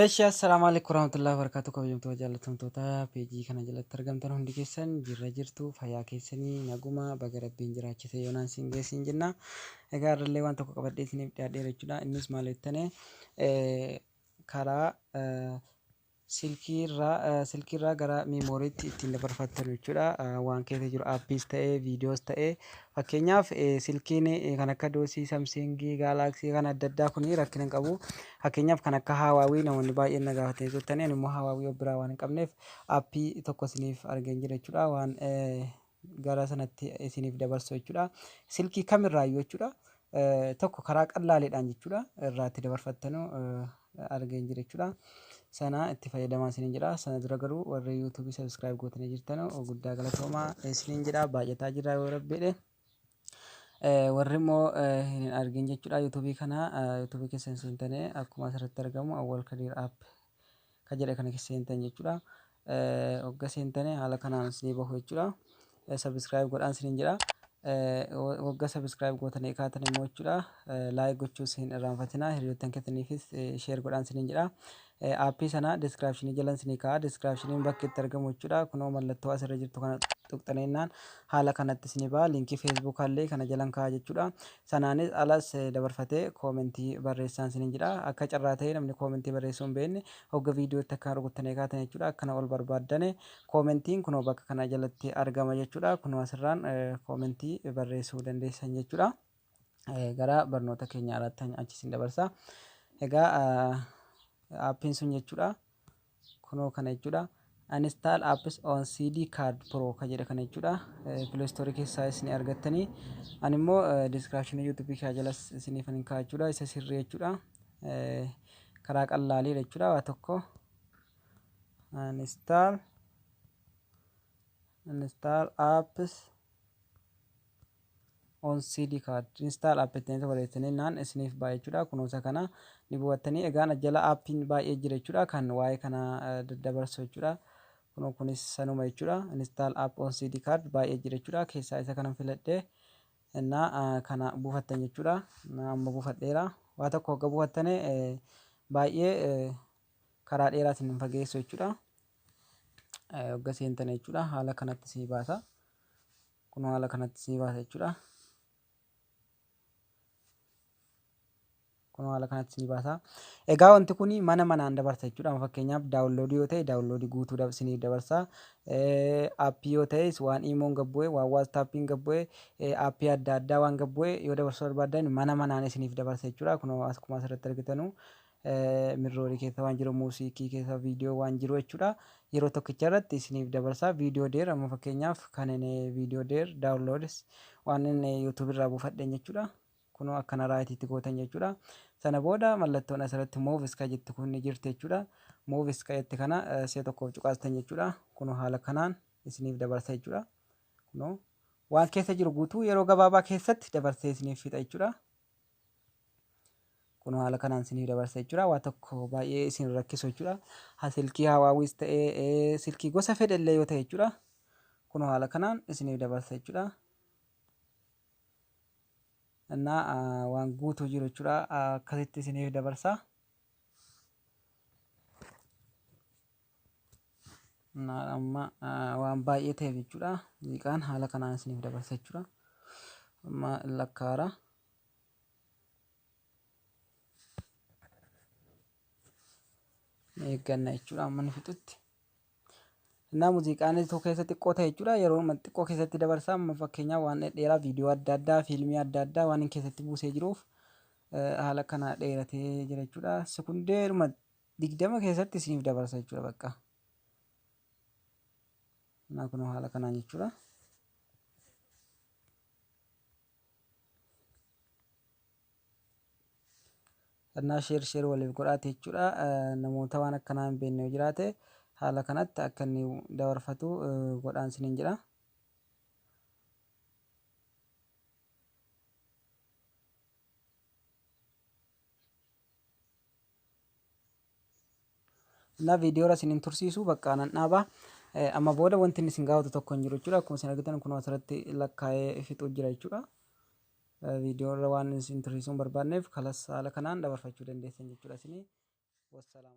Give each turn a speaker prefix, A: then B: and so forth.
A: Eeshaa assalaamu alaikum warahmatullahi wabarakatuh kabajamtoota jaallatamtoota peejii kana jalatti argamtan hundi keessan jirra jirtu fayyaa keessanii naguma baga rabbiin jiraachise yoonaan siin geessiin jenna egaa irrallee waan tokko qabadhee isiniif dhiyaadheera jechuudha innis maal jettane karaa silkii irraa silkii irraa gara miimooriitti ittiin dabarfattanu jechuudha. Waan keessa jiru appiis ta'ee viidiyoos ta'ee fakkeenyaaf silkiin kan akka doosii samsiingii gaalaaksii kan adda addaa kun rakkina hin qabu. Fakkeenyaaf kan akka haawaawii namoonni baay'een na gaafatanii turtanii ani immoo haawaawii of biraa waan hin qabneef appii tokko isiniif argeen jira jechuudha. Waan gara sanatti isiniif dabarsu jechuudha. Silkii kam irraayyuu jechuudha. Tokko karaa qallaaleedhaan jechuudha. Irraa itti dabarfattanu argee hin jiru jechuudha. Sana itti fayyadamaa isiniin jedha. Sana dura garuu warri YouTube subscribe gootanii jirtanu guddaa galatoomaa isiniin jedha. Baay'ataa jira yoo rabbi jedhe. Warri immoo hin argin jechuudha YouTube kana YouTube keessan seentanii akkuma asirratti argamu Awwal Kadir App Ka jedhe kana kessa seentan jechudha. Hogga seentane haala kanaan isinii bahu jechudha. Subscribe godhaan isiniin jedha. Hogga subscribe gootanii kaatan immoo jechudha. Like gochuus hin irraanfatinaa. Hiriyoottan keessaniifis share godhaan isiniin jedha. Aappii sana description jala isinii kaa'a. Description bakki itti argamu jechudha. Kunoo mallattoo asirra jirtu kana tuqxanii innaan haala kanatti isinii ba'a. Linkii Facebook illee kana jalan kaa'a jechudha. Sanaanis alas dabarfatee comment barreessaan sinin jedha. Akka carraa ta'ee namni comment barreessuu hin beekne hogga video itti akkaan rukuttanii kaatan jechuudha. Akkana ol barbaaddane commentiin kunoo bakka kana jalatti argama jechuudha. Kunoo asirraan comment barreessuu dandeessan jechuudha. Gara barnoota keenya haraattan achi sin dabarsa. Egaa aappiin sun jechuudha. Kunoo kana jechuudha. Uninstall apps on CD card pro ka jedhe kana jechuudha. Play store keessaa isin argattanii. Ani immoo description YouTube kee jalas isiniifan hin kaa'a jechuudha. Isa sirrii jechuudha. Karaa qallaalii jechuudha waa tokko. Uninstall uninstall apps on CD card install app jettanii tokko jettanii naan isiniif baay'ee jechuudha kunuunsa kana ni bu'attanii egaan jala appiin baay'ee jira jechuudha kan waa'ee kana daddabarsu jechuudha kunoo kunis sanuma jechuudha install app on CD card baay'ee jira jechuudha keessaa isa kanan filadhee innaa kana buufattan jechuudha amma buufadheera waa tokko hogga buufattane baay'ee karaa dheeraatiin hin fageessu jechuudha hogga seentane jechuudha haala kanatti sii baasa Kunoo haala kanatti isinii baasa jechuudha. Kunoo haala kanatti isinii baasa. Egaa wanti kun mana manaan dabarsa jechuudha. Amma fakkeenyaaf daawunloodii yoo ta'e daawunloodii guutuu dab- isiniif dabarsa. Eh, Aappii yoo ta'es waan iimoon gad bu'e, waan waastaappiin gad bu'e, eh, aappii adda addaa waan gad bu'e yoo dabarsuu barbaaddan mana manaan isiniif dabarsa jechuudha. Kunoo akkuma asirratti argitanu mirrori keessa waan jiru muusiikii keessa viidiyoo waan jiru jechuudha yeroo tokkicha irratti isiniif dabarsaa viidiyoo deer amma fakkeenyaaf kan inni viidiyoo deer daawunloods waan inni yuutuub irraa buufadheen jechuudha kunoo akkana raayitiitti gootan jechuudha sana booda mallattoon asirratti muuvis ka jettu kun ni jirti jechuudha muuvis ka jette kana si'a tokkoof cuqaastan jechuudha kunoo haala kanaan isiniif dabarsa jechuudha kunoo waan keessa jiru guutuu yeroo gabaabaa keessatti dabarsee isiniif fixa jechuudha Kunoo haala kanaan isinii dabarsa jechuudha. Waa tokko baay'ee isin rakkisu jechuudha. Ha silkii Hawaawiis ta'ee ee, silkii gosa fedhe illee yoo ta'e jechuudha. Kunoo haala kanaan isiniif dabarsa jechuudha. Innaa ah, waan guutuu jiru jechuudha. Ah, Akkasitti isiniif dabarsa. Naadha amma waan baay'ee ta'eef jechuudha. Muuziqaan haala kanaan isiniif dabarsa jechuudha. Amma lakkaara. Eegganna jechuudha amma inni fixutti. Innaa muuziqaan tokko keessa xiqqoo ta'e jechuudha yeroo xiqqoo keessatti dabarsa amma fakkeenyaaf waan dheeraa viidiyoo adda addaa fiilmii adda addaa waan inni keessatti buusee jiruuf haala kana dheeratee jira jechuudha. Sekundeedhuma 20 keessatti isiniif dabarsa jechuudha bakka naa kunoo haala kanaan jechuudha kannaa sheer sheer waliif godhaate jechuudha namoota waan akkanaa hin beekne yoo jiraate haala kanatti akka inni dabarfatu godhaan sinin jedha. Kanaaf viidiyoora isin hin tursiisu bakka nan dhaaba. Amma booda wanti inni isin gaafatu tokko hin jiru jechuudha. Akkuma isin argitan kun asirratti lakkaa'ee fixuu jira jechuudha. Viidiyoorra waan isin tursiisuu hin barbaadneef kalas haala kanaan dabarfachuu dandeessan jechuudha isin. Wassalaam.